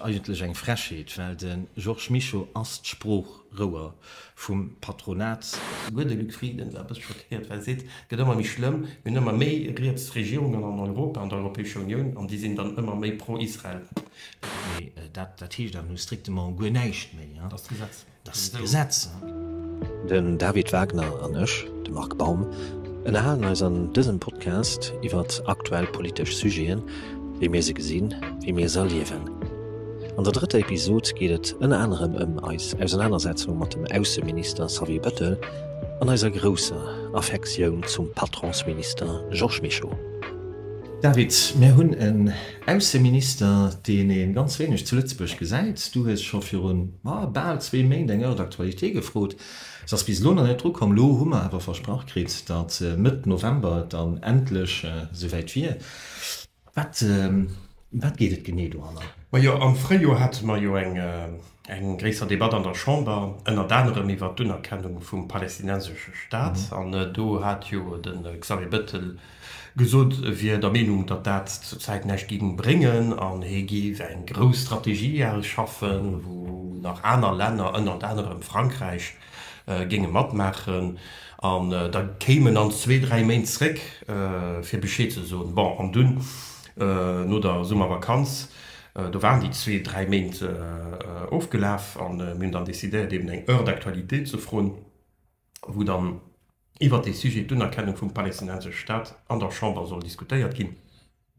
Eigentlech eng Frechheet, well de Georges Mischo ass d'Sproochrouer vum Patronat. Souguer de Luc Frieden ass e bësse schockéiert, well e seet, et gëtt ëmmer méi schlëmm, mir hunn ëmmer méi riets Regierungen an Europa, an der Europäescher Unioun, an déi sinn dann ëmmer méi pro-Israel. Mee dat heescht awer nu strictement guer näischt méi. Dass d'Gesetz. Den David Wagner an ech, de Marc Baum, ënnerhalen eis an dësem Podcast iwwert aktuell politesch Sujeten, wéi mir se gesinn, wéi mir se erliewen. An der drëtter Episod geet et ënner anerem ëm eis Ausenanersetzung mat dem Ausseminister Xavier Bettel an eiser grousser Affektioun zum Patronsminister Georges Mischo. David, mir hunn en. Ausseminister, deen ee ganz wéineg zu Lëtzebuerg gesäit. Du hues scho virun, ma, bal zwee Méint eng Heure d'actualité gefrot. Se ass bis elo nach net drukomm. Elo hu mer awer versprach kritt, datt Mëtt November et dann endlech esouwäit wier. Wat, ëm wat geet et genee doranner? Majo, am Fréijoer hate mer jo eng gréisser Debatt an der Chamber, ënnert anerem iwwert d'Unerkennung vum palestinensesche Staat. An do hat jo de Xavier Bettel Gesot, e wier der Meenung, datt dat zur Zäit näischt gi bréngen an hie géif eng grouss Strategie ausschaffen, wou nach aner Länner, ënnert anerem Frankräich, géinge matmaachen. An da kéim en an zwee, dräi Méint zréck, fir Bescheed ze soen. Bon, an dunn no der Summervakanz, do waren déi zwee, dräi Méint ofgelaf a mir hunn dann decidéiert, eeben eng Heure d'actualité ze froen. wou dann iwwert dee Sujet, d'Unerkennung vum palästinensesche Staat, an der Chamber soll diskutéiert ginn.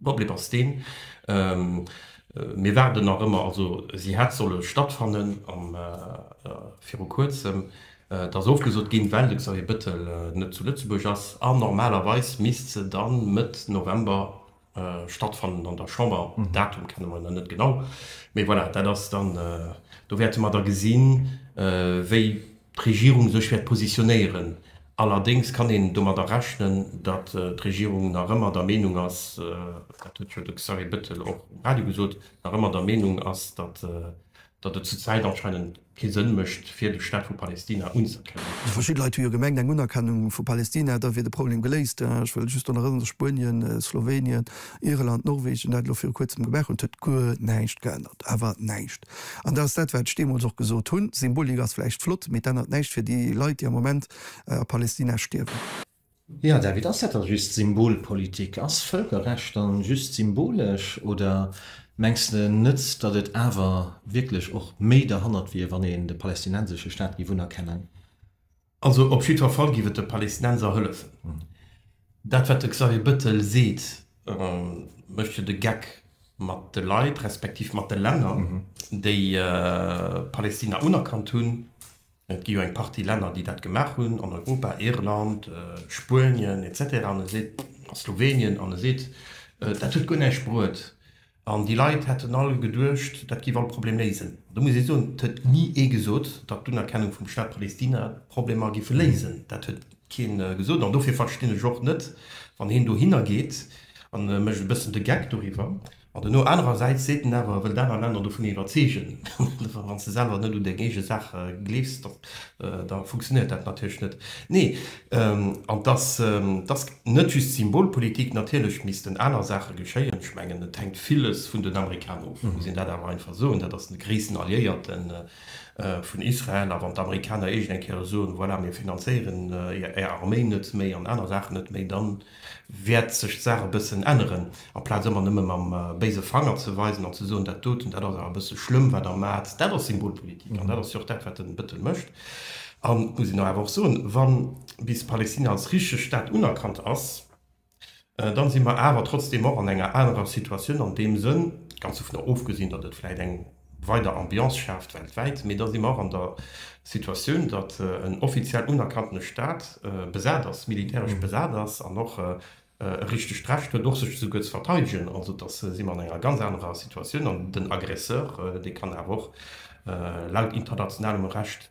Problem ass deen, mir waarden nach ëmmer, also si hätt solle stattfannen viru Kuerzem, dat ass ofgesot ginn, well de Xavier Bettel net zu Lëtzebuerg ass, an normalerweis misst se dann Mëtt November Äh, stattfannen an der Chamber. Mhm. Datum kennen wir net genau. Mais voilà, dat ass dann äh, do wäerte mer da gesinn, äh, wéi d'Regierung sech wäert positionéieren. Allerdings kann een domadder rechnen, dat äh, d'Regierung nach ëmmer der Meinung ass, äh, dat huet jo de Xavier Bettel och um Radio gesot, nach ëmmer der Meinung ass, dat äh, datt et zur Zäit anscheinend kee Sënn mécht, fir de Staat vu Palestina unzëerkennen. Verschidde Leit hu jo gemengt, eng Unerkennung vu Palestina, da wier de Problem geléist. Ech wëll just drun erënneren, datt Spuenien, Slowenien, Irland, Norwegen dat elo viru Kuerzem gemaach hunn. Et huet guer näischt geännert, awer näischt. An dat ass dat, wat ech deemools och gesot hunn, Symbolik ass vläicht flott, mee et ännert näischt fir déi Leit, déi am Moment a Palestina stierwen. Jo David, ass dat da just Symbolpolitik? Ass Vëlkerrecht dann just symbolesch oder mengs de net datt et awer wierklech och méi derhannert wier wann een de palestinensesche Staat giff unerkennen? Also op jiddwer Fall giff et de Palestinenser hëllefen. Dat wat de Xavier Bettel seet mécht jo de Geck mat de Leit respektiv mat de Länner déi Palestina unerkannt hunn. Et gi jo eng Partie Länner, déi dat gemaach hunn an Europa, Irland, Spuenien, etc. An e seet, a Slowenien, an e seet, dat huet guer näischt bruet. An déi Leit hätten all geduecht, dat géif all Problem léisen. An do muss ee soen, et huet ni ee gesot, datt d'Unerkennung vum Staat Palestina d'Problemer géif léisen. Dat huet kee gesot. An dofir verstinn ech och net, wann een dohinner geet a mécht e bëssen de Geck doriwwer, Ma dono anerersäits seet en awer, wëll d'aner Länner dovun iwwerzeegen. Wann s de selwer net un deng eege Saach gleefs, da funktionéiert dat natierlech net. Nee, an dass dass net just Symbolpolitik, natierlech missten aner Saache geschéien. Ech mengen, et hänkt villes vun den Amerikaner of, muss een dat awer einfach soen. Dat ass de gréissten Alliéierte vun Israel. A wann d'Amerikaner iergendeng Kéier soen, voilà, mir finanzéieren är Arméi net méi an aner Saachen net méi, dann. wäert sech d'Saach e bëssen änneren. Aplaz ëmmer nëmme mam béise Fanger ze weisen an ze soen, dat doten, dat ass awer e bësse schlëmm, wat Der maacht, dat ass Symbolpolitik. An dat ass jo och dat, wat den Bëttel mécht. An et muss een awer och soen, wa bis Palestina als richteg Staat unerkannt ass, dann si mer awer trotzdeem och an enger anerer Situatioun an deem Sënn, ganz dovunner ofgesinn, datt et vläicht eng, weider Ambiance schaaft weltwäit, mee da si mer och an der Situatioun, datt en offiziell unerkanntene Staat besat ass, militäresch besat ass an och e richtegt Recht huet, och sech esouguer ze verteidegen. Also da si mer an enger ganz anerer Situatioun an den Aggresseur, dee kann awer och laut internationalem Recht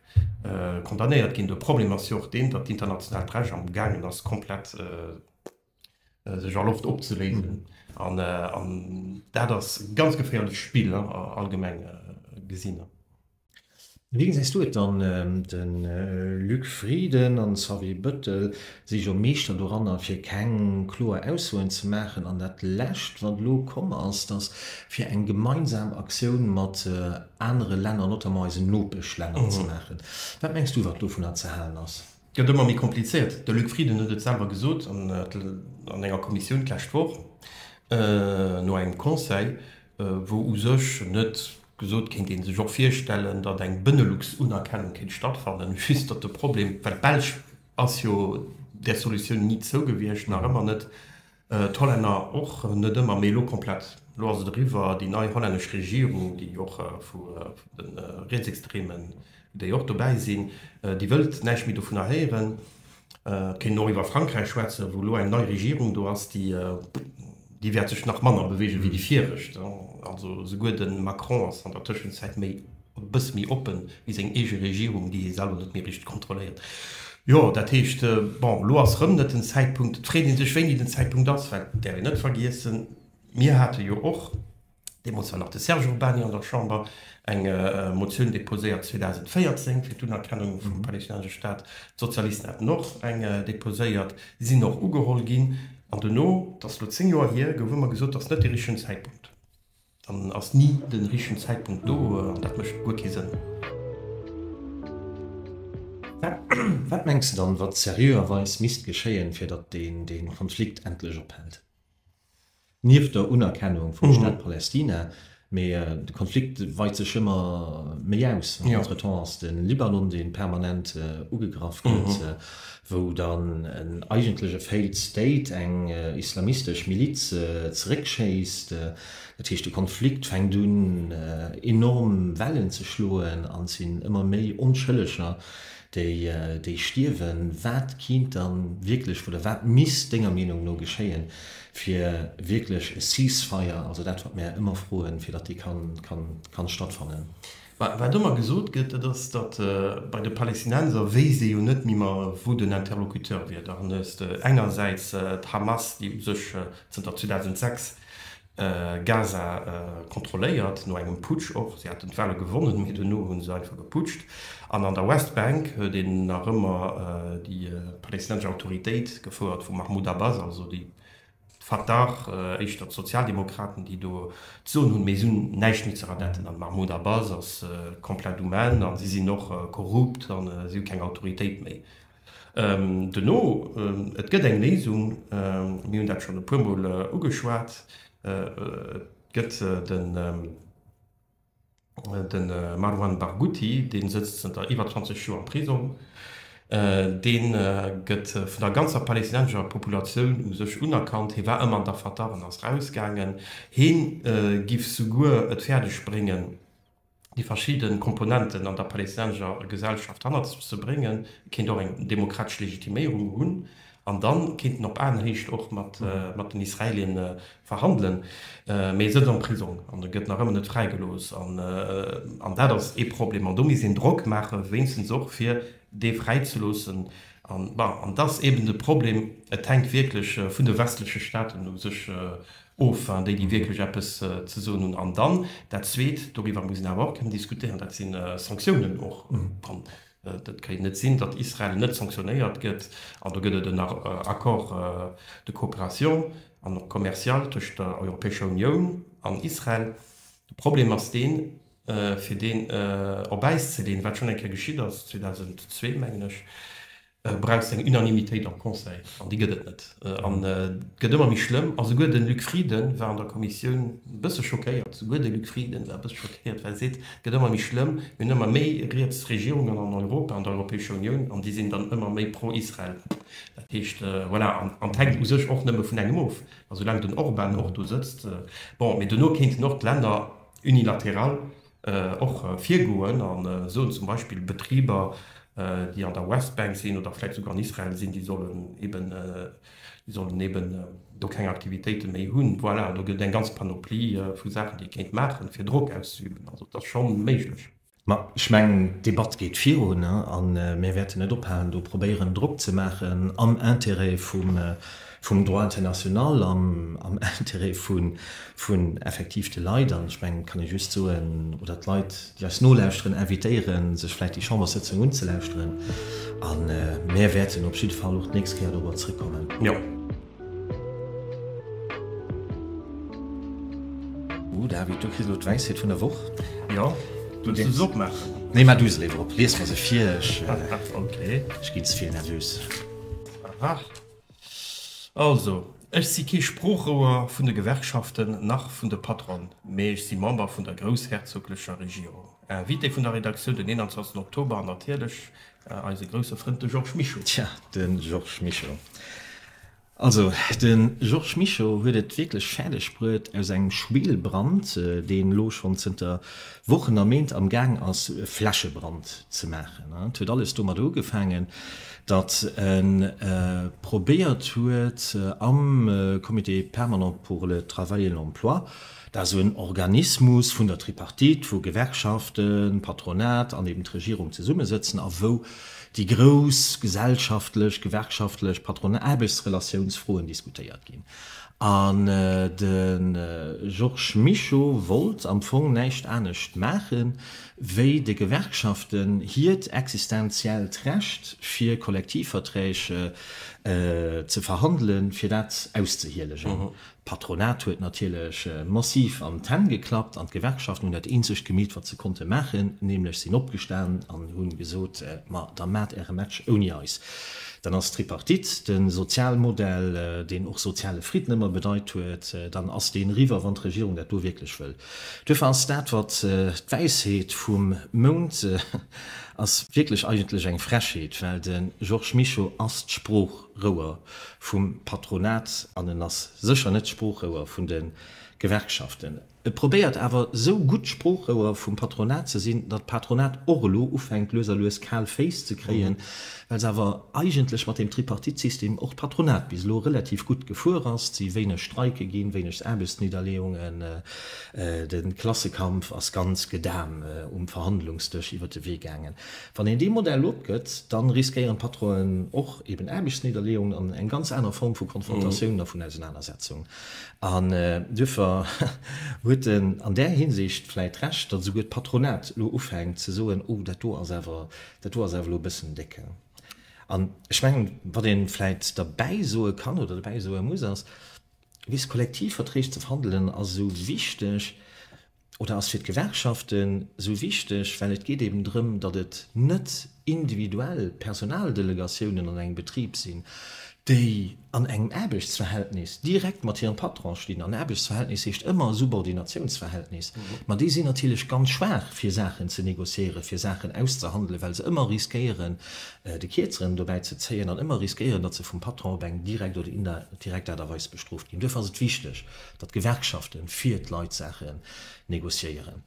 condamnéiert ginn. De Problem ass jo och deen, datt d'internationaalt Recht amgaangen ass, komplett, sech a Loft opzeléisen an an dat ass e ganz geféierlecht Spill allgemeng gesinn. Wéi gesäis du et dann? De Luc Frieden an Xavier Bettel si jo Meeschter doranner fir keng kloer Aussoen ze maachen an dat lescht wat elo komm ass, datt fir eng gemeinsam Aktioun mat anere Länner, notamment eisen Nopeschlänner, ze maachen. Wat mengs du wat dovunner ze halen ass? Gëtt ëmmer méi komplizéiert. De Luc Frieden huet et selwer gesot an enger Kommissioun d'lescht Woch, no engem Conseil, wou u sech net gesot kéint ee sech och virstellen, datt eng Benelux-Unerkennung kéint stattfannen, just datt de Problem, well d'Belsch ass jo där Solutioun ni zou gewiescht, nach ëmmer net D'Hollänner och net ëmmer, mee elo komplett. Elo ass et eriwwer. Déi nei hollännesch Regierung, déi och vu de Rietsextremen, déi och dobäi sinn, déi wëllt näischt méi dovunner héieren. Et kéint een och iwwer Frankräich schwätzen, wou elo eng nei Regierung do ass, déi wäert sech nach manner beweege wéi déi viregt. Also souguer de Macron ass an der Tëschenzäit méi e bësse méi oppen, wéi seng eege Regierung, déi hie selwer net méi richteg kontrolléiert. Jo, dat heescht, bon, elo ass erëm net den Zäitpunkt. Et freet ee sech, wéini den Zäitpunkt ass, well, däerf een net vergiessen, mir hate jo och, deemools war nach de Serge Urbany an der Chamber, eng Motioun deposéiert 2014 fir d'Unerkennung vum palestinensesche Staat. D'Sozialisten haten och eng deposéiert, sinn och ugeholl ginn. An duerno, dat ass elo zéng Joer hier, gouf ëmmer gesot, dat ass net de richtegen Zäitpunkt. Dann ass ni den richtegen Zäitpunkt do an dat mécht guer kee Sënn. Wat mengs de dann, wat seriöerweis misst geschéien, fir datt dee Konflikt endlech ophält? Nieft der Unerkennung vum Staat Palästina, mee de Konflikt weit sech ëmmer méi aus. Entretemps ass de Libanon, dee permanent ugegraff gëtt. wou dann en eigentleche Failed State eng islamistesch Miliz zeréckschéisst. Dat heescht, de Konflikt fänkt un enorm Wellen ze schloen an et sinn ëmmer méi Onschëlleger, déi stierwen. Wat kéint da wierklech oder wat misst Denger Meenung no geschéien, fir wierklech e Ceasefire, also dat wat mär ëmmer froen, fir datt dee kann stattfannen? Mä wat ëmmer gesot gëtt, dat ass, datt bei de Palästinenser wéisst ee jo net méi mer, wou den Interlocuteur wier. Da hues de engersäits d'Hamas, déi u sech zënter 2006 Gaza kontrolléiert, no engem Putsch och, si haten d'Wahle gewonnen, mee duerno hu se einfach geputscht, an an der Westbank huet een nach ëmmer déi palästinensesch Autoritéit, gefouert vum Mahmoud Abbas, also déi Fatah, éischter d'Sozialdemokraten déi do d'Soen hunn, mee se hunn näischt méi ze radetten. An Mahmoud Abbas ass komplett um Enn an si sinn och korrupt an si hu keng Autoritéit méi. Duerno, et gëtt eng Léisung, mir hunn dat schonn e puer Mol ugeschwat, et gëtt den. Den Marwan Barghouti, deen sëtzt zënter iwwer 20 Joer am Prisong, deen gëtt vun der ganzer Palestinensescher Populatioun u sech unerkannt. Hee war ëmmer an der Fatah an ass rausgaangen. Heen giff souguer et fäerdeg bréngen déi verschidden Komponenten an der Palestinensescher Gesellschaft hannert sech ze bréngen. Et kéint och eng demokratesch Legitiméierung hunn, An dann kinnt en op Aenhéicht och mat den Israelien verhandelen. Mee e sëtzt am Prisong an e gëtt nach ëmmer net fräigelooss. An dat ass ee Problem. An do misst een Drock maachen, wéinstens och fir dee fräizeloossen. An bon, an dat ass eben de Problem, et hänkt wierklech vun de westleche Staaten u sech of, déi déi wierklech eppes ze soen hunn. An dann dat Zweet, doriwwer muss een awer och kënnen diskutéieren, dat si Sanktiounen och. Et kéint net sinn, datt Israel net sanktionéiert gëtt, an do gëtt et en Accord de coopération an och commercial tëscht der Europäescher Unioun an Israel. De Problem ass deen, fir deen op Äis ze leeën, wat schonn eng Kéier geschitt ass, 2002 mengen ech, brauchst eng Unanimitéit am Conseil, an déi gëtt et net. An et gëtt ëmmer méi schlëmm, a souguer de Luc Frieden war an der Kommissioun e bësse schockéiert, souguer de Luc Frieden war e bësse schockéiert, well e seet, Gëtt ëmmer méi schlëmm. Mir hunn ëmmer méi riets Regierungen an Europa, an der Europäescher Unioun, an déi sinn dann ëmmer méi pro-Israel. Dat heescht, voilà, an et hänkt u sech och nëmme vun engem of, a soulaang den Orban och do sëtzt, bon, mee duerno kéinten och d'Länner unilateral och virgoen a soen, zum Beispill Betriber, déi an der Westbank sinn oder vläicht souguer an Israel sinn, déi sollen eben Déi sollen eben do keng Aktivitéite méi hunn. Voilà, an do gëtt eng ganz Panoplie vu Saachen, déi ee kéint maachen, fir Drock auszeüben. Also et ass scho méiglech. Mä ech mengen, d'Debatt geet virun a mir wäerten net ophalen, do probéieren, Drock ze maachen am Interêt vum Droit international, am Interêt effektiv vun de Leit. An ech mengen, et kann ee just soen, oder d'Leit, déi eis nolauschteren, invitéieren, sech vläit déi Chamberssëtzung unzelauschteren a mär wäerten op jidde Fall och d'nächst Kéier dorobber zrëckkommen. Jo. Oh David, du kriss elo d'Wäissheet vun der Woch. Jo, wëlls du se opmaachen? Nee, maach du se léiwer op. Lies mer se vir, ech ginn ze vill nervös. Aha. Also, ech si kee Sproochrouer vun de Gewerkschaften nach vun de Patronen, mee ech si Member vun der groussherzoglecher Regierung. Invité vun der Redaktioun den 21 Oktober an natierlech eise grousse Frënd, de Georges Mischo. Tja, de Georges Mischo. Also, de Georges Mischo huet et wierklech fäerdeg bruet, aus engem Schwelbrand, deen elo schonn zënter Wochen a Méint am Gaang ass, e Flächebrand ze maachen. Et huet alles domat ugefaangen, datt e probéiert huet am Comité permanent pour le travail et l'emploi, dat ass en Organismus vun der Tripartite, wou Gewerkschaften, Patronat an eben d'Regierung zesummesëtzen a wou déi grouss gesellschaftlech, gewerkschaftlech, patronal, Aarbechtsrelatiounsfroen diskutéiert ginn. An de Georges Mischo wollt am Fong näischt anescht maachen, wéi de Gewerkschaften hiert existenziellt Recht fir Kollektivverträg ze verhandelen, fir dat auszehielegen. D'Patronat huet natierlech massiv an d'Hänn geklappt an d'Gewerkschaften hunn dat eenzegt gemeet wat se konnte maachen, nämlech sinn opgestan an hunn gesot, ma da maacht äre Match ouni eis. Dann ass d'Tripartite, de Sozialmodell, deen och soziale Fridden ëmmer bedeit huet, dann ass deen eriwwer, wann d'Regierung dat do wierklech wëll. Duerfir ass dat wat d'Wäisheet vum Mount ass wierklech eigentlech eng Frechheet, well de Georges Mischo ass d'Sproochrouer vum Patronat an en ass sécher net d'Sproochrouer vun de Gewerkschaften. E probéiert awer esou gutt d'Sproochrouer vum Patronat ze sinn, datt d'Patronat och elo ufänkt lues a lues kal Féiss ze kréien, Well se awer eigentlech mat deem Tripartite-System och d'Patronat bis elo relativ gutt gefuer ass, et si wéineg Streike ginn, wéineg Aarbechtsnidderleeungen, de Klassekampf ass ganz gedam um Verhandlungsdësch iwwer de Wee gaangen. Wann een dee Modell opgëtt, da riskéieren d'Patronen och eben Aarbechtsnidderleeungen an eng ganz aner Form vu Konfrontatioun a vun Ausenanersetzung. An duerfir huet en an där Hinsicht vläit Recht, datt esouguer d'Patronat elo ufänkt ze soen, oh dat do ass awer Dat do ass awer elo e bëssen décke. An ech mengen, wat ee vläit derbäi soe kann oder derbäi soe muss, ass, Bis Kollektivverträg ze verhandelen ass esou wichteg oder ass fir d'Gewerkschaften esou wichteg, well et geet eben drëm, datt et net individuell Personaldelegatiounen an engem Betrib sinn, déi an engem Aarbechtsverhältnis direkt mat hirem Patron stinn, an Aarbechtsverhältnis heescht ëmmer e Subordinatiounsverhältnis, ma déi sinn natierlech ganz schwaach fir Saachen ze négociéieren, fir Saachen auszehandelen, well se ëmmer riskéieren de Kierzeren dobäi ze zéien an ëmmer riskéieren, datt se vum Patron op eng direkt oder indirekt Aart a Weis bestrooft ginn. Duerfir ass et wichteg, datt d'Gewerkschafte fir d'Leit Saachen négociéieren.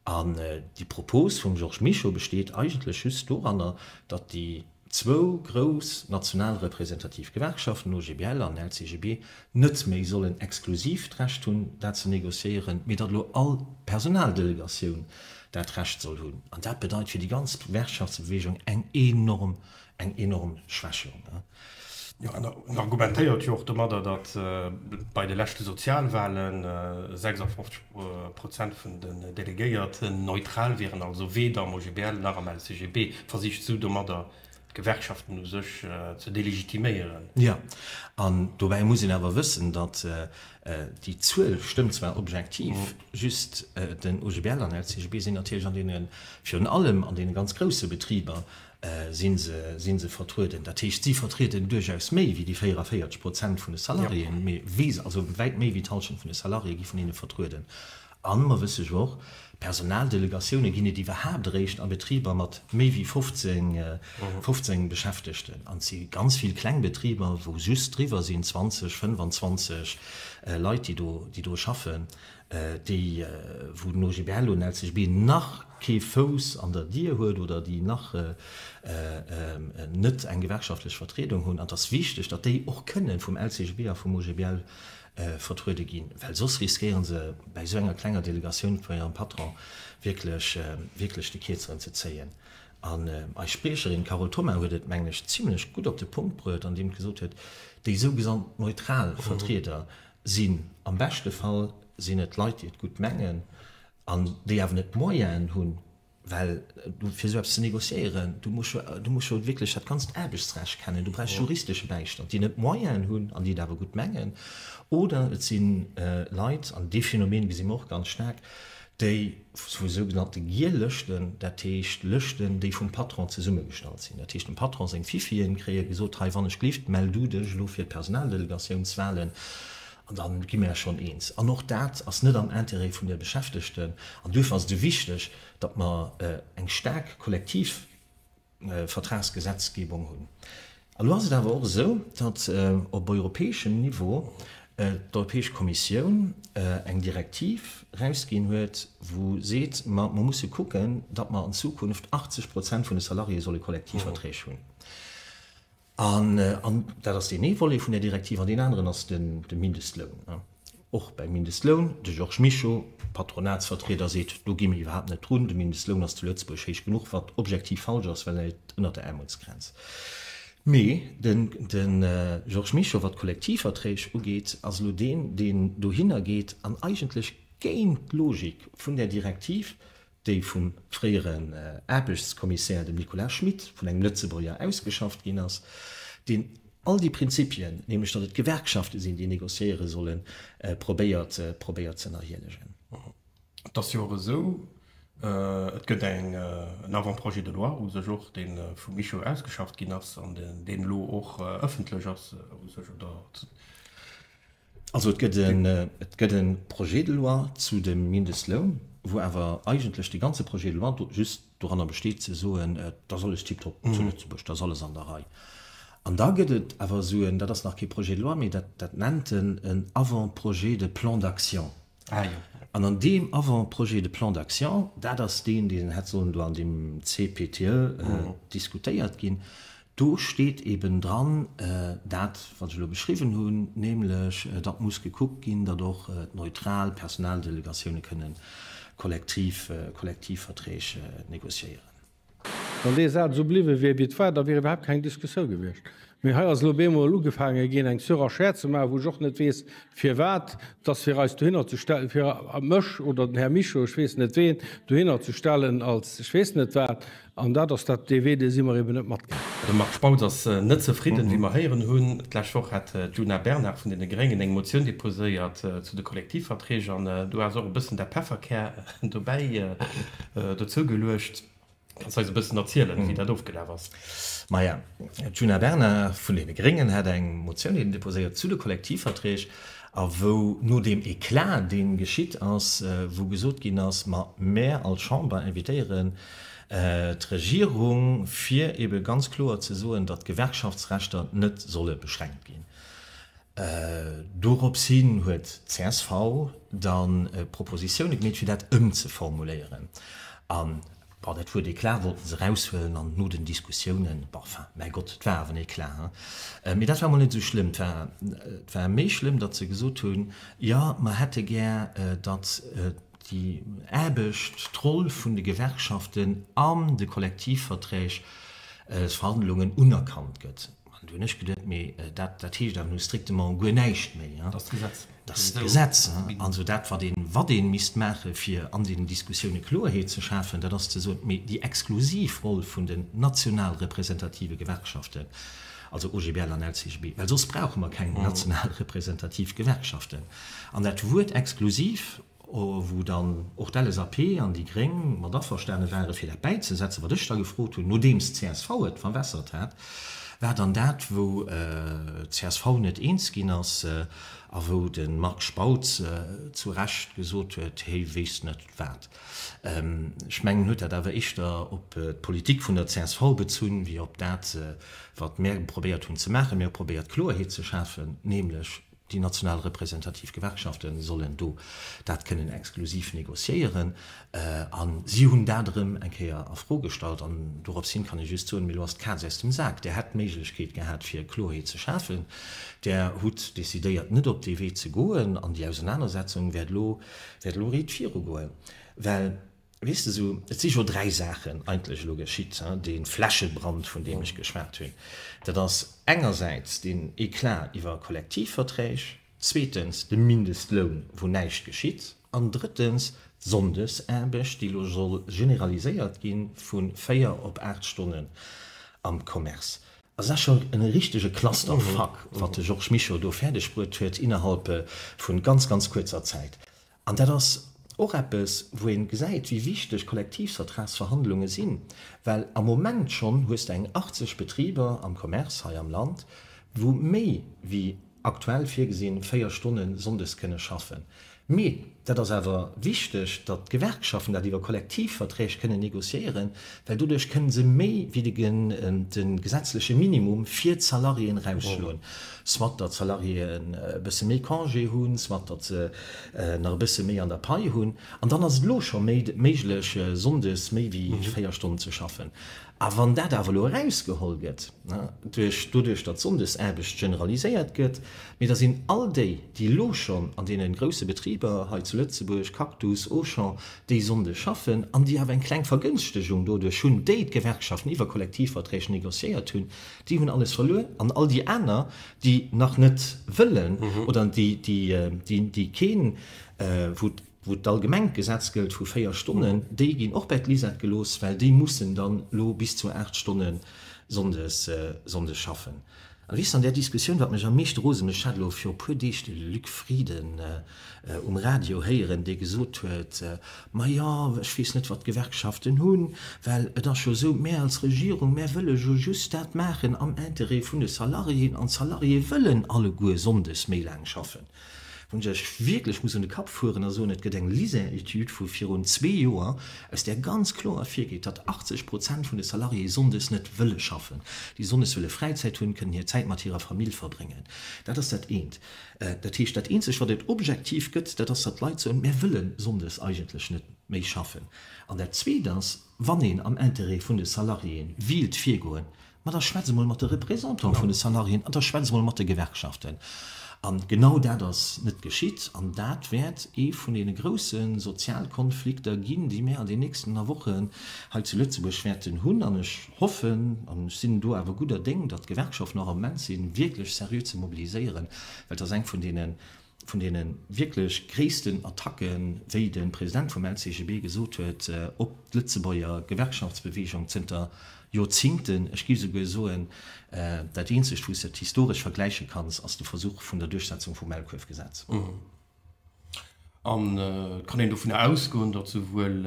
An déi Propos vum Georges Mischo besteet eigentlech just doranner, datt déi. zwou grouss national representativ Gewerkschaften, OGBL an LCGB, net méi sollen exklusiv d'Recht hunn, dat ze négociéieren, mee datt elo all Personaldelegatioun dat Recht soll hunn. An dat bedeit fir déi ganz Gewerkschaftsbewegung eng enorm, eng enorm Schwächung. Jo, an en argumentéiert jo och domadder, datt bei de leschte Sozialwahlen 56 Prozent vun den Delegéierten neutral wieren, also weder am OGBL nach am LCGB. versicht esou domadder d'Gewerkschaften u sech ze delegitiméieren. Jo, an dobäi muss een awer wëssen, datt déi Zuel stëmmt zwar objektiv, just den OGBL an LCGB sinn natierlech an deene, virun allem an deene ganz grousse Betriber si se, si se vertrueden. Dat heescht, si vertrieden duerchaus méi wéi déi 44 Prozent vun de Salariéen, also wäit méi wéi d'Halschent vun de Salariéë gi vun hinne vertrueden. An mer wësse jo och, Personaldelegatioune ginn et iwwerhaapt eréischt a Betriber mat méi wéi 15, 15 Beschäftegten. An et si ganz vill kleng Betriber, wou just driwwer sinn, 20, 25 Leit, déi do, déi do schaffen, déi, wou den OGBL, un LCGB, nach kee Fouss an der Dier huet oder déi nach net eng gewerkschaftlech Vertriedung hunn. An et ass wichteg, datt déi och kënnen vum LCGB a vum OGBL vertruede ginn, well soss riskéieren se bäi esou enger klenger Delegatioun vun hirem Patron wierklech, wierklech de Kierzeren ze zéien. An eis Spriecherin Carole Thoma huet et, mengen ech, zimlech gutt op de Punkt bruet, andeem gesot huet, déi sougesant neutral Vertrieder sinn am beschte Fall sinn et Leit, déi et gutt mengen an déi awer net d'Moyenen hunn, Well du fir esou eppes ze négociéieren, du muss jo, du muss jo wierklech dat ganzt Aarbechtsrecht kennen, du bräichs juristesche Bäistand, déi net d'Moyenen hunn an déi et awer gutt mengen. Oder et si Leit, an dee Phänomen gesi mer och ganz staark, déi vu sougenannte Giel Lëschten, dat heescht Lëschten, déi vum Patron zesummegestallt sinn, dat heescht dem Patron seng Fifien kréie gesot, hei wann ech glift, mell du dech elo fir d'Personaldelegatioun-swalen An da gi mir eis schonn eens. An och dat ass net am Intérêt vun de Beschäftegten. An duerfir ass et esou wichteg, datt mer eng staark Kollektivvertragsgesetzgebung hunn. Elo ass et awer och esou, datt op europäeschem Niveau d'Europäesch Kommissioun eng Direktiv erausginn huet, wou seet, ma mer musse kucken, datt mer an Zukunft 80 Prozent vun de Salariéë solle Kollektivverträg hunn. An dat ass deen ee Volet vun där Direktiv. An deen aneren ass de Mindestloun. Och beim Mindestloun, de Georges Mischo, Patronatsvertrieder, seet, do gi mir iwwerhaapt net drun. De Mindestloun ass zu Lëtzebuerg héich genuch, wat objektiv falsch ass, well e läit ënnert der Aarmutsgrenz. Mee de Georges Mischo, wat d'Kollektivverträg ugeet, ass elo deen, deen dohinner geet an eigentlech géint d'Logik vun där Direktiv déi vum fréieren Aarbechtskommissär, dem Nicolas Schmit, vun engem Lëtzebuerger ausgeschafft ginn ass, deen all déi Prinzipien, nämlech datt et d'Gewerkschafte sinn, déi negociéiere sollen, probéiert probéiert z'ënnerhielegen. Et ass jo och esou, et gëtt en Avant-projet de loi u sech och, dee vum Mischo ausgeschafft ginn ass an deen elo och ëffentlech ass u sech, oder? Also et gëtt e, et gëtt e Projet de loi zu dem Mindestloun, wou awer eigentlech de ganze Projet de loi do just doranner besteet ze soen, et ass alles tiptop zu Lëtzebuerg, et ass alles an der Rei. An da gëtt et awer esou en, dat ass nach kee Projet de loi, mee dat, dat nennt en en Avant-projet de plan d'action. Ah jo. An an deem Avant-projet de plan d'action, dat ass deen, deen hätt sollen do an deem CPTE diskutéiert ginn, Do steet eben dran dat, wat ech elo beschriwwen hunn, nämlech datt muss gekuckt ginn, datt och neutral Personaldelegatioune kënnen Kollektivverträg négociéieren. Wann dee Saz esou bliwwe wier, wéi et war, da wier iwwerhaapt keng Diskussioun gewiescht. Mee hei ass elo op eemol ugefaange ginn, eng Surenchère ze maachen, wou ech och net weess, firwat datt, fir eis dohinner ze stellen, fir mech oder den Här Mischo, ech weess net ween, dohinner ze stellen als ech weess net wat. An dat ass dat dee Wee, dee si mer eben net matgaangen. De Marc Spautz ass net zefridden, wéi mer héieren hunn. D'lescht Woch hat d'Djuna Bernard vun deene Gréngen eng Motioun deposéiert zu de Kollektivverträg an do ass och e bëssen dat Pefferkär dobäi dozou geluecht. Kanns eis e bëssen erzielen, wéi dat ofgelaf ass? Maja, d'Djuna Bernard vun deene Gréngen hat eng Motioun eben deposéiert zu de Kollektivverträg a wou no deem Eclat, dee geschitt ass, wou gesot ginn ass, ma mär als Chamber invitéieren d'Regierung, fir ebe ganz kloer ze soen, datt d'Gewerkschaftsrechter net solle beschränkt ginn. Dorops hin huet csv da Propositioune gemeet, fir dat ëmzeformuléieren. An, bon, dat wor d'Eclat, wollten se eraushuelen. An no den Diskussiounen, bon, enfin, mäi Gott, et war awer en Eclat, hein. Mee dat war mol net esou schlëmm. Et war méi schlëmm, datt se gesot hunn, Jo, mer hätte gär, datt, déi Aarbecht, d'Roll vun de Gewerkschaften an de Kollektivverträgsverhandlungen unerkannt gëtt. An du hunn ech geduet, mee dat, dat heescht awer nu strictement guer näischt méi. Dat ass d'Gesetz. Dat ass d'Gesetz. Also dat, wat een, wat een misst maachen, fir an deenen Diskussioune Kloerheet ze schafen, dat ass ze soen, mee déi exklusiv Roll vun den national representative Gewerkschaften, also OGBL an LCGB, well soss brauche mer keng national representativ Gewerkschaften. An dat Wuert exklusiv, wou dann och d'LSAP an déi Gréng mat averstane ware fir dat bäizesetzen, wat ech da gefrot hunn, nodeems d'CSV et verwässert hat, war dann dat, wou d'CSV net eens ginn ass a wou de Marc Spautz zu Recht gesot huet, Hee weess net wat. Ech mengen, en huet dat awer éischter op d'Politik vun der csv bezunn, wéi op dat, wat mär probéiert hunn ze maachen. Mir hu probéiert, Kloerheet ze schafen, nämlech déi national representativ Gewerkschafte sollen do dat kënnen exklusiv négociéieren. A si hunn dat erëm eng Kéier a Fro gestallt. An dorops hin kann ech just soen, Mee elo ass d'Kaz aus dem Sak. Där hätt d'Méiglechkeet gehat, fir Kloerheet ze schafen. Där hutt decidéiert, net op dee Wee ze goen. An déi Ausenanersetzung wäert elo wäert elo riit viru goen, well, weess de, esou, et si jo dräi Saachen eigentlech elo geschitt, dee Flächebrand, vun deem ech geschwat hunn, dat ass engersäits deen Eclat iwwer Kollektivverträg, zweetens de Mindestloun, wou näischt geschitt, an drëttens d'Sonndesaarbecht, déi elo soll generaliséiert gi vu véier op aacht Stonnen am Commerce. Ass a schon en richtege Clusterfuck wat de Georges Mischo do färdeg bruet huet innerhalb vun ganz ganz kuerzer Zäit. An dat ass och eppes wou een gesäit wéi wichteg Kollektivsvertragsverhandlungen sinn, well am Moment schon hues de eng 80 Betriber am Commerce hei am Land wou méi wéi aktuell virgesinn, véier Stonne sonndes kënne schaffen. Mee dat ass awer wichteg, datt d'Gewerkschaften dat iwwer Kollektivverträg kënnen negociéieren, well doduerch kënne se méi wéi de gesetzleche Minimum fir d'Salariéen erausschloen, soit datt d'Salariéen e bësse méi Congé hunn, soit datt se nach e bësse méi an der Pai hunn. An dann ass et elo scho méiglech, sonndes méi wéi véier Stonnen ze schaffen. A wann dat awer elo erausgeholl gëtt, duerch doduerch, datt d'Sonndesaarbecht generaliséiert gëtt, mee da sinn all déi, déi elo schonn an deene grouse Betriber hei zu Lëtzebuerg, Cactus, Auchan, dee Sonnde schaffen an déi awer eng kleng Vergënschtegung doduerch hunn, déi d'Gewerkschaften iwwer Kollektivverträg négociéiert hunn, déi hunn alles verluer. An all déi aner, déi nach net wëllen oder déi keen, wou. wou d'allgemengt Gesetz gëllt vu 4 Stonnen, déi ginn och bäi d'Lisette gelooss, well déi mussen dann elo bis zu 8 Stonne sonndes schaffen. A weess, an där Diskussioun, wat mech am meeschte rose mécht, ech hat elo viru puer Deeg de Luc Frieden um Radio héieren, dee gesot huet, ma jo, ech weess net, wat d'Gewerkschaften hunn, well et ass jo esou, mär als Regierung, mär wëlle jo just dat maachen am Interêt vun de Salariéen, an d'Salariéë wëllen alleguer sonndes méi laang schaffen. Wou ech wierklech muss un de Kapp fueren a soen, et gëtt eng LISER-Etüd vu virun zwee Joer, aus där ganz kloer ervirgeet, datt 80 Prozent vun de Salariéë sonndes net wëlle schaffen, déi sonndes wëlle Fräizäit hunn, kënnen hir Zäit mat hirer Famill verbréngen. Dat ass dat eent. Dat heescht, dat eenzegt, wat et objektiv gëtt, dat ass, datt d'Leit soen, Mär wëlle sonndes eigentlech net méi schaffen. An dat Zweet ass, wann een am Interêt vun de Salariéë wéilt virgoen, Ma da schwätz emol mat de Representantë vun de Salariéen an da schwätz emol mat de Gewerkschaften. A genau dat ass net geschitt an dat wäert ee vun deene grousse Sozialkonflikter ginn, déi mir an den nächsten a Wochen hei zu Lëtzebuerg wäerten hunn. An ech hoffen, an ech sinn do awer gudder Déng, datt d'Gewerkschaften och am Ment sinn, wierklech seriö ze mobiliséieren, well et ass eng vun deene, vun deene wierklech gréissten Attacken, wéi de President vum LCGB gesot huet, op d'Lëtzebuerger Gewerkschaftsbeweegung zënter Joerzingten. Ech géif souguer soen, dat eenzegt, wou s de et historesch vergläiche kanns, ass de Versuch vun der Duerchsetzung vum Maulkuerfgesetz. An et kann een dovunner ausgoen, datt souwuel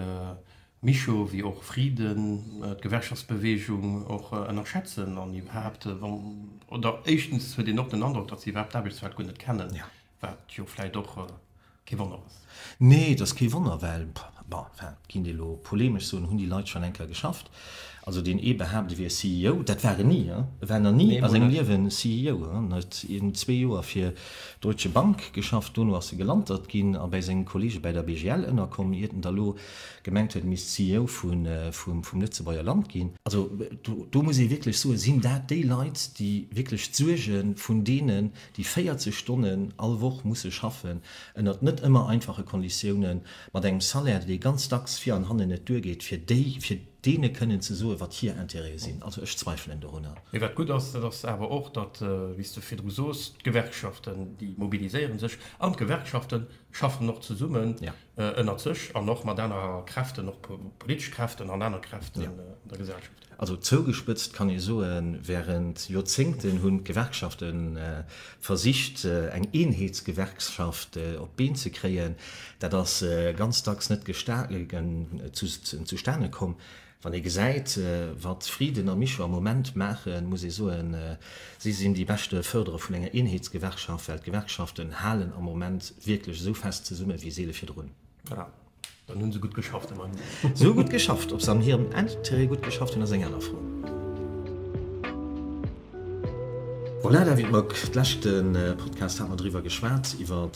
Mischo wéi och Friden, d'Gewerkschaftsbewegung och ënnerschätzen an iwwerhaapt, oder éischtens huet een och den Androck, datt se iwwerhaapt d'Aarbechtswelt guer net kennen, wat jo vläicht och kee Wonner ass. Nee, et ass kee Wonner, well, bon, enfin, géint ee lo polemesch soen, hunn déi Leit schonn enker geschafft. Also deen ee behaapt, e wier CEO, dat war en ni, hein, e war nach ni a sengem Liewen CEO, hein. En huet iergend zwee Joer fir d'Deutsche Bank geschafft, dono ass e gelantert ginn a bäi senge Kollege bäi der BGL ënnerkomm, iert en da lo gemengt huet, misst CEO vum Lëtzebuerger Land ginn. Also do muss ee wierklech soen, sinn dat déi Leit, déi wierklech d'Suerge vun deenen, déi 40 Stonnen all Woch musse schaffen, ënnert net ëmmer einfache Konditiounen, mat engem Salaire, dee ganz dacks vir an hannen net duergeet, fir deene kënnen ze soen, wat hir Interêtë sinn? Also ech zweifelen dorunner. Mee wat gutt ass, dat ass awer och, datt, wéi s de virdru sos, d'Gewerkschaften, déi mobiliséiere sech an d'Gewerkschafte schaffen och zesummen, ënnert sech an och mat aner Kräften, och politesch Kräften an aner Kräften an der Gesellschaft. Also zougespëtzt kann ee soen, während Joerzéngten hunn d'Gewerkschafte versicht eng Eenheetsgewerkschaft op d'Been ze kréien. Dat ass ganz dacks net zustane komm. Wann ee gesäit, wat Frieden a Mischo am Moment maachen, muss ee soen, si sinn déi beschte Fërderer vun enger Eenheetsgewerkschaft, well d'Gewerkschaften halen am Moment wierklech esou fest zesummen, wéi seele virdrun. Voilà, dann hu se gutt geschafft, immerhin. Se hu gutt geschafft. Ob se an hirem Interêt gutt geschafft hunn, ass eng aner Fro. Voilà, David Mock, d'leschte Podcast hat mer driwwer geschwat, iwwer.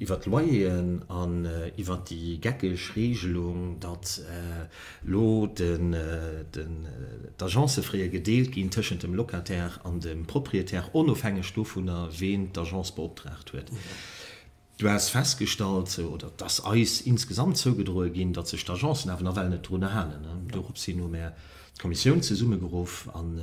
iwwert d'Loyeren an iwwert déi geckeg Reegelung, datt elo d'Agencë fréier gedeelt ginn tëschent dem Locataire an dem Proprietär, onofhängeg dovunner, ween d'Agence beoptraagt huet. Du has festgestallt, oder et ass eis insgesamt zougedroe ginn, datt sech d'Agencen awer nawell net drunner halen. Dorop sinn elo mär. D'Kommissioun zesummegeruff an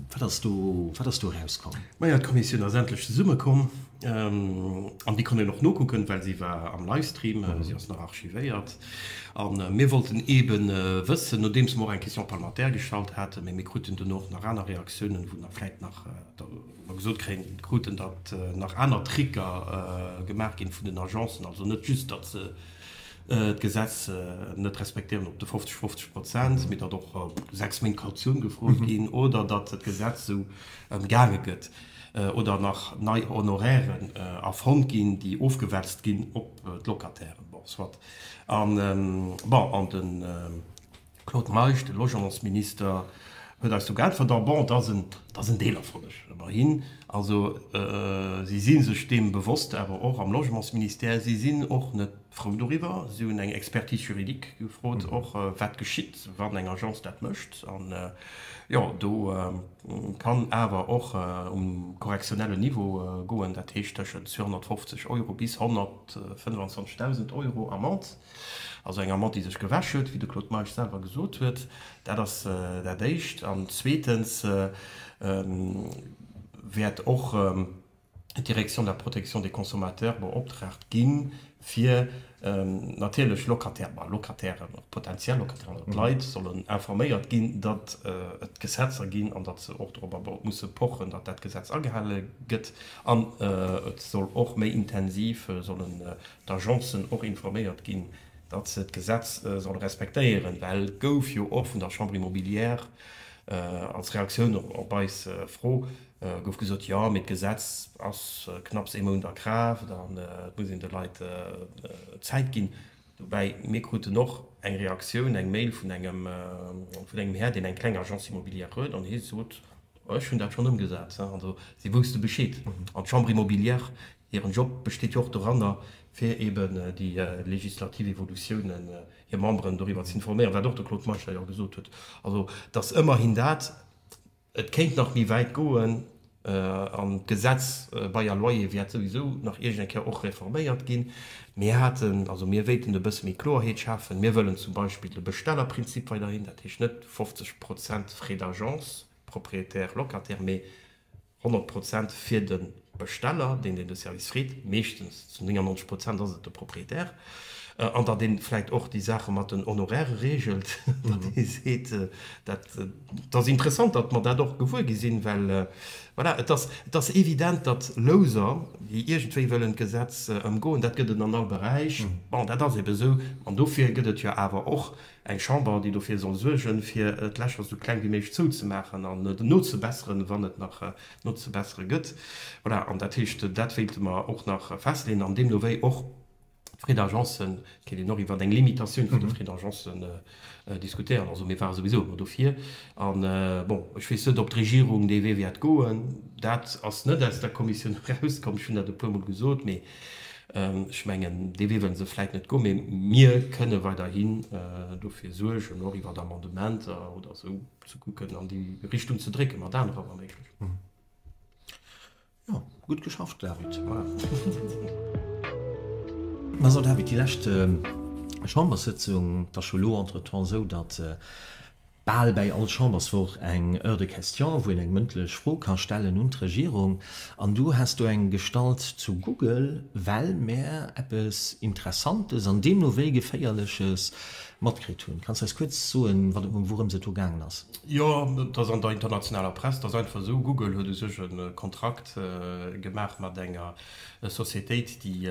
wat ass do, wat ass do erauskomm? Majo, d'Kommissioun ass endlech zesummekomm an Dir konnt en och nokucken, well si war am Livestream, si ass nach archivéiert. A mir wollten eebe wëssen, nodeems mer och eng Question parlementaire gestallt haten, mee mir kruten duerno och nach aner Reaktiounen, wou mer vläicht nach gesot kruten, datt nach aner Tricker gemaach ginn vun den Agencen, also net just, datt se d'Gesetz net respektéieren op de 50, 50 Prozent, mee datt och sechs Méint Kautioun gefrot ginn oder datt d'Gesetz esou ëmgaange gëtt oder nach nei Honorairen erfonnt ginn, déi ofgewälzt ginn op d'Locatairen. Bon, soit. An, bon, an de. Claude Meisch, De Logementsminister huet eis do geäntwert, en bon, dass en Deelerfolleg ëmmerhin. Also si si sech deem bewosst, awer och am Logementsministère, si sinn och net frou doriwwer. Si hunn eng Expertise juridique gefrot och, wat geschitt, wann eng Agence dat mécht. An jo, do kann awer och um correctionnellen Niveau goen, dat heescht tëschent 250 Euro bis 125.000 Euro Amende. Also eng Amant, déi sech gewäsch huet, wéi de Claude Meisch selwer gesot huet. Dat ass dat Éischt. An zweetens wäert och d'Direction de la protection des consommateurs beoptraagt ginn, fir natierlech Locataire, bah Locataire, potentiell Locataire, also d'Leit sollen informéiert ginn, datt et Gesetzer ginn an datt se och dorobber musse pochen, datt dat Gesetz agehale gëtt. An et soll och méi intensiv solle d'Agencen och informéiert ginn, datt se d'Gesetz solle respektéieren, well gouf jo och vun der Chambre immobilière als Reaktioun op eis Fro gouf gesot, jo, mee d'Gesetz ass knapps ee Mount a Kraaft an et muss een de Leit Zäit ginn. Dobäi, mir kruten och eng Reaktioun, eng Mail vun engem Här, deen eng kleng Agence immobilière huet an hie sot, ech hunn dat schonn ëmgesat. Also si wousste Bescheed an d'Chambre immobilière Hiren Job besteet jo och doranner, fir eben déi legislativ Evolutiounen hir Memberen doriwwer ze informéieren, wat och de Claude Meisch hei och gesot huet, also datt ëmmerhin dat, et kéint nach méi wäit goen, an d'Gesetz, Bail à loyer, wäert souwisou nach iergendeng Kéier och reforméiert ginn. Mir haten, also mir wéilten e bësse méi Kloerheet schafen. Mir wëllen zum Beispill de Bestellerprinzip weiderhin, dat heescht net 50 Prozent Frais d'agence, Propriétaire, Locataire, mee 100 Prozent fir de Besteller, deen, deen de Service freet, meeschtens zu 99 Prozent ass et de Propriétaire, an datt ee vläicht och déi Saache mat den Honorairë reegelt, datt ee seet, dat, dat ass interessant, datt mer dat och gewuer gi sinn, well, voilà, et ass, et ass evident, datt Loser, déi iergendwéi wëllen d'Gesetz ëmgoen, dat gëtt et an all Beräich, bon, dat ass ebe sou, an dofir gëtt et jo awer och Eng Chamber, déi dofir soll suergen, fir d'Lächer esou kleng wéi méiglech zouzemaachen an nozebesseren, wann et nach nozebessere gëtt. Voilà, an dat heescht, dat wéilte mer och nach festleeën an deemno wéi och d'Frais d'agence, kéint een och iwwert eng Limitatioun vun de Frais d'agence diskutéieren. Also mir ware souwisou ëmmer dofir. A bon, ech weess net, ob d'Regierung dee Wee wäert goen. Dat ass net aus der Kommissioun erauskomm, ech hunn dat e puermol gesot, mee Ech mengen, dee Wee wëlle se vläicht net goen, mee mir kënne weiderhi dofir suergen, och iwwer Amendementer oder esou, ze kucken, an déi Richtung ze drécke mat anerer, wa méiglech. Jo, gutt geschafft, David. Mä so, David, déi lescht Chamberssëtzung, 't ass scho elo entretemps esou, datt, Bal bäi all Chamberswoch eng Heure de questions, wou een eng mëndlech Fro ka stellen un d'Regierung. An du häss do eng gestallt zu Google, well mär eppes Interessantes an deemno wéi Geféierleches matkritt hunn. Kanns eis kuerz soen, wourems et do gaangen ass? Jo, et ass an der internationaler Press. Et ass einfach esou, Google huet u sech e Kontrakt gemaach mat enger Societéit, déi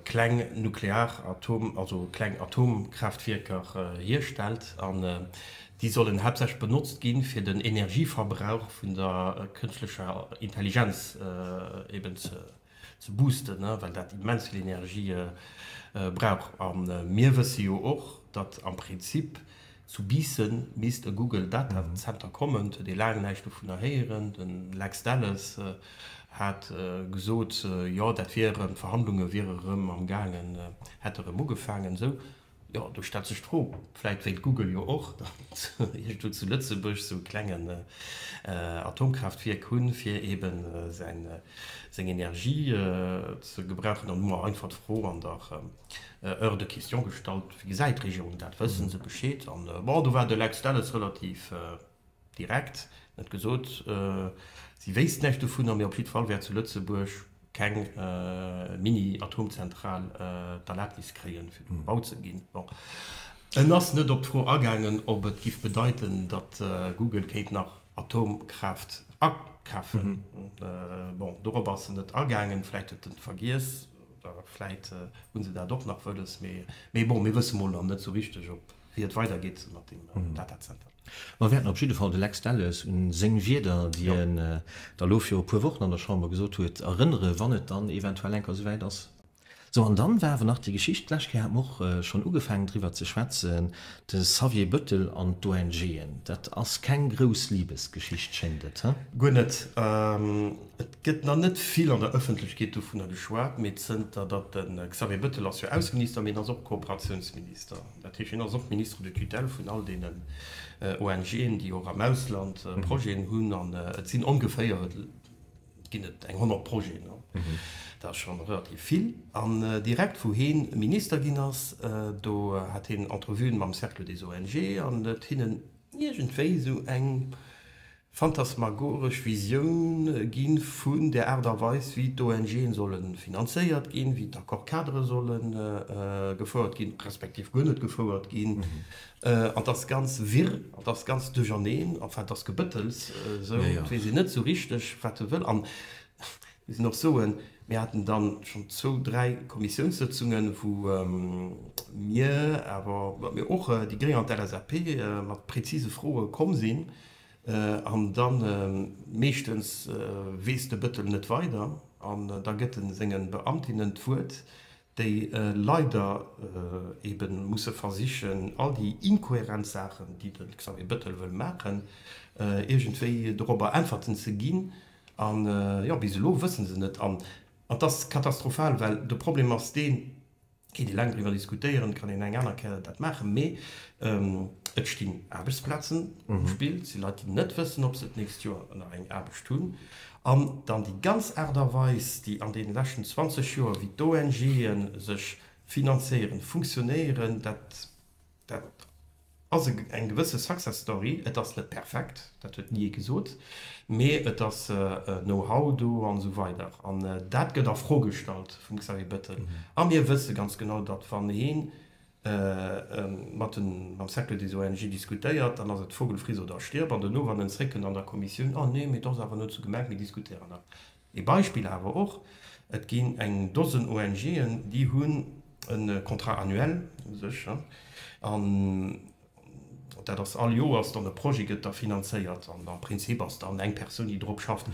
kleng nuklear Atom also kleng Atomkraaftwierker hierstellt an déi sollen haaptsächlech benotzt ginn, fir den Energieverbrauch vun der kënschtlecher Intelligenz eben ze boosten, well dat immens vill Energie brauch. A mir wësse jo och, datt am Prinzip, Zu Biissen misst e Google Data Center kommen, huet ee laang näischt dovunner héieren. Den Lex Delles hat gesot, jo dat wier erëm, d'Verhandlunge wiere erëm am gaangen, hätte erëm ugefaangen. Esou jo, do stellt sech d'Fro, vläit wéilt Google jo och datt iergendwou zu Lëtzebuerg sou e klengen Atomkraaftwierk hunn, fir ebe seng Energie ze gebrauchen. An hu mer einfach d'Fro an der. Hors de question gestallt. Wéi gesäit d'Regierung dat? Wësse se Bescheed? An bon, do war de Lex Delles relativ direkt, en huet gesot, si wéisst näischt dovunner, mee op jiddwer Fall wäert zu Lëtzebuerg keng Mini-Atomzentral d'Erlabnis kréien, fir do gebaut ze ginn. Bon, en ass net op d'Fro agaangen, ob et géif bedeiten, datt Google kéint nach Atomkraaft akafen. Bon, dorop ass en net agaangen, vläicht huet en et vergiess. Oder vläit hu se dat och nach wëlles. Mee bon, mir wësse mol nach net esou richteg, wéi et weidergeet mat deem Datazenter. Mer wäerten op jidde Fall de Lex Delles u seng Wierder, déi en da lo viru e puer Wochen an der Chamber gesot huet, erënnere wann et dann eventuell eng Kéier esou wäit ass. Sou, an dann war awer nach déi Geschicht, d'lescht Kéier hate mer och schonn ugefaangen driwwer ze schwätzen, de Xavier Bëttel an d'ONGen. Dat ass keng grouss Liebesgeschicht, schéngt et, he? Guer net. Et gëtt nach net vill an der Ëffentlechkeet dovunner geschwat, mee zënter datt de Xavier Bëttel ass jo Ausseminister, mee en ass och Kooperatiounsminister, dat heescht en ass och Ministre de tutelle vun all deenen ONGen, déi och am Ausland Projeten hunn, an et sinn ongeféier, et ginn et eng 100 Projeten, an dat ass scho relativ vill, an direkt wou hien Minister ginn ass, do hat hien Entrevuen mam Cercle des ONG an huet hinnen iergendwéi esou eng. Phantasmagoresch Visioune gi vun der Aart a Weis, wéi d'ONGen solle finanzéiert ginn, wéi d'Accord-cadrë solle gefouert ginn, respektiv guer net gefouert ginn. An 't ass ganz wirr an 't ass ganz duercherneen. Enfin, 't ass Gebëttels esou. 't weess een net esou richteg, wat e wëll. An ech muss och soen, mir haten dann schonn zwou, dräi Kommissiounssëtzungen, wou mir awer, mir och, déi Gréng an d'LSAP, mat prezise Froe komm sinn, An dann meeschtens weess de Bëttel net weider an da gëtt en sengen Beamtinnen d'Wuert, déi leider eben musse versichen all déi inkohärent Saachen, déi de Xavier Bëttel wëll maachen, iergendwéi dorobber Äntwerten ze ginn. An jo, bis elo wëssen se net an et ass katastrophal, well de Problem ass deen, Kéint ee laang driwwer diskutéieren, kann een eng aner Kéier dat maachen. Mee et stinn Aarbechtsplazen um Spill. Et si Leit, déi net wëssen, ob se d'nächst Joer nach eng Aarbecht hunn. An dann déi ganz Aart a Weis, déi an deene leschten 20 Joer, wéi d'ONGe sech finanzéieren, funktionéieren, dat Dat ass eng gewësse Success Story. Et ass net perfekt, dat huet ni ee gesot, mee et ass Know-how do an esou weider. An dat gëtt a Fro gestallt vum Xavier Bettel. A mir wësse ganz genau, datt wann ee mam Cercle des ONG diskutéiert, dann ass et Vogel friss oder stirb. An dono, wann en zeréckkënnt an der Kommissioun, Oh nee, mee et ass awer net esou gemengt, mir diskutéieren nach. Ee Beispill awer och, Et ginn eng Dosen ONG'en, déi hunn e Contrat annuel u sech, an dat ass all Joers dann e Projet gëtt da finanzéiert, an am Prinzip ass dann eng Persoun, déi drop schafft.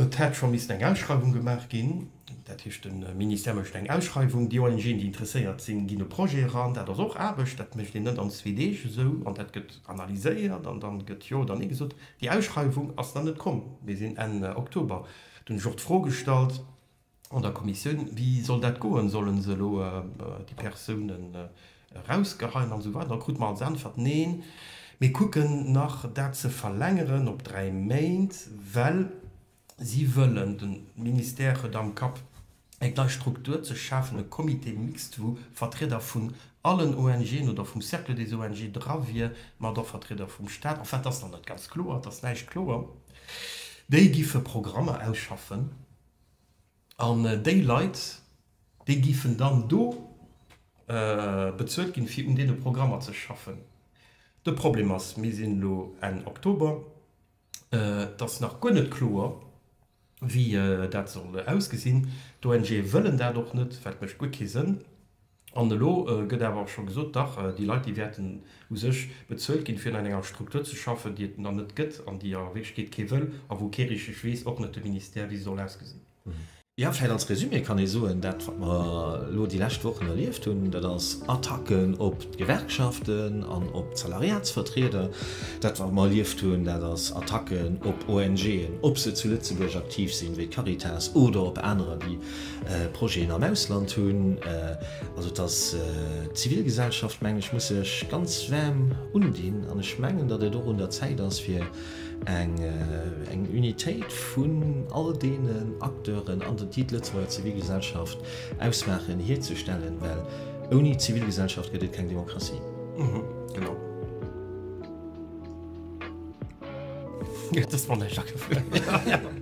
Et hätt scho missten eng Ausschreiwung gemaach ginn, dat heescht de Ministère mécht eng Ausschreiwung, déi ONG'en, déi interesséiert sinn, ginn e Projet eran. Dat ass och Aarbecht, dat mécht een net an zwee Deeg esou, an dat gëtt. Analyséiert an dann gëtt jo oder nee gesot. Déi Ausschreiwung ass nach net komm. Mir sinn Enn Oktober. Dunn ech och d'Fro gestallt an der Kommissioun, wéi soll dat goen, sollen se elo déi Persounen erausgeheien an esou weider. Da krute mer als Äntwert, Neen, mir kucken nach dat ze verlängeren op dräi Méint, well Si wëllen, de Ministère huet am Kapp eng nei Struktur ze schafen, e Comité mixte wou Vertrieder vun allen ONGen oder vum Cercle des ONG dra wier, mat och Vertrieder vum Staat, enfin, et ass nach net ganz kloer, et ass näischt kloer. Déi géife Programmer ausschaffen an déi Leit, déi géifen dann do bezuelt ginn, fir un deene Programmer ze schaffen. De Problem ass, mir sinn elo Enn Oktober. Et ass nach guer net kloer, wéi dat soll ausgesinn. D'ONGe wëllen dat och net, wat mécht guer kee Sënn. An elo gëtt awer scho gesot, dach, déi Leit, déi wäerten u sech bezuelt ginn, fir an enger Struktur ze schaffen, déi et dann net gëtt an déi a Wierklechkeet kee wëll a wou kee richteg weess, och net de Ministère, wéi se soll ausgesinn. Jo, vläicht als Resumé kann ee soen, dat wat mer elo déi lescht Wochen erlieft hunn, dat ass Attacken op d'Gewerkschaften an op d'Salariatsvertrieder. Dat wat mer erlieft hunn, dat ass Attacken op ONGen, ob se zu Lëtzebuerg aktiv sinn, wéi d'Caritas, oder op anerer, déi Projeten am Ausland hunn. Also et ass, d'Zivilgesellschaft, mengen ech, muss sech ganz waarm undinn an ech mengen, datt et och un der Zäit ass, fir Eng Unitéit vun all deenen Acteuren an den, déi d'Lëtzebuerger Zivilgesellschaft ausmaachen, hierzustellen, well ouni Zivilgesellschaft gëtt et keng Demokratie. Genau. Huet dës Wonnerjacke vun.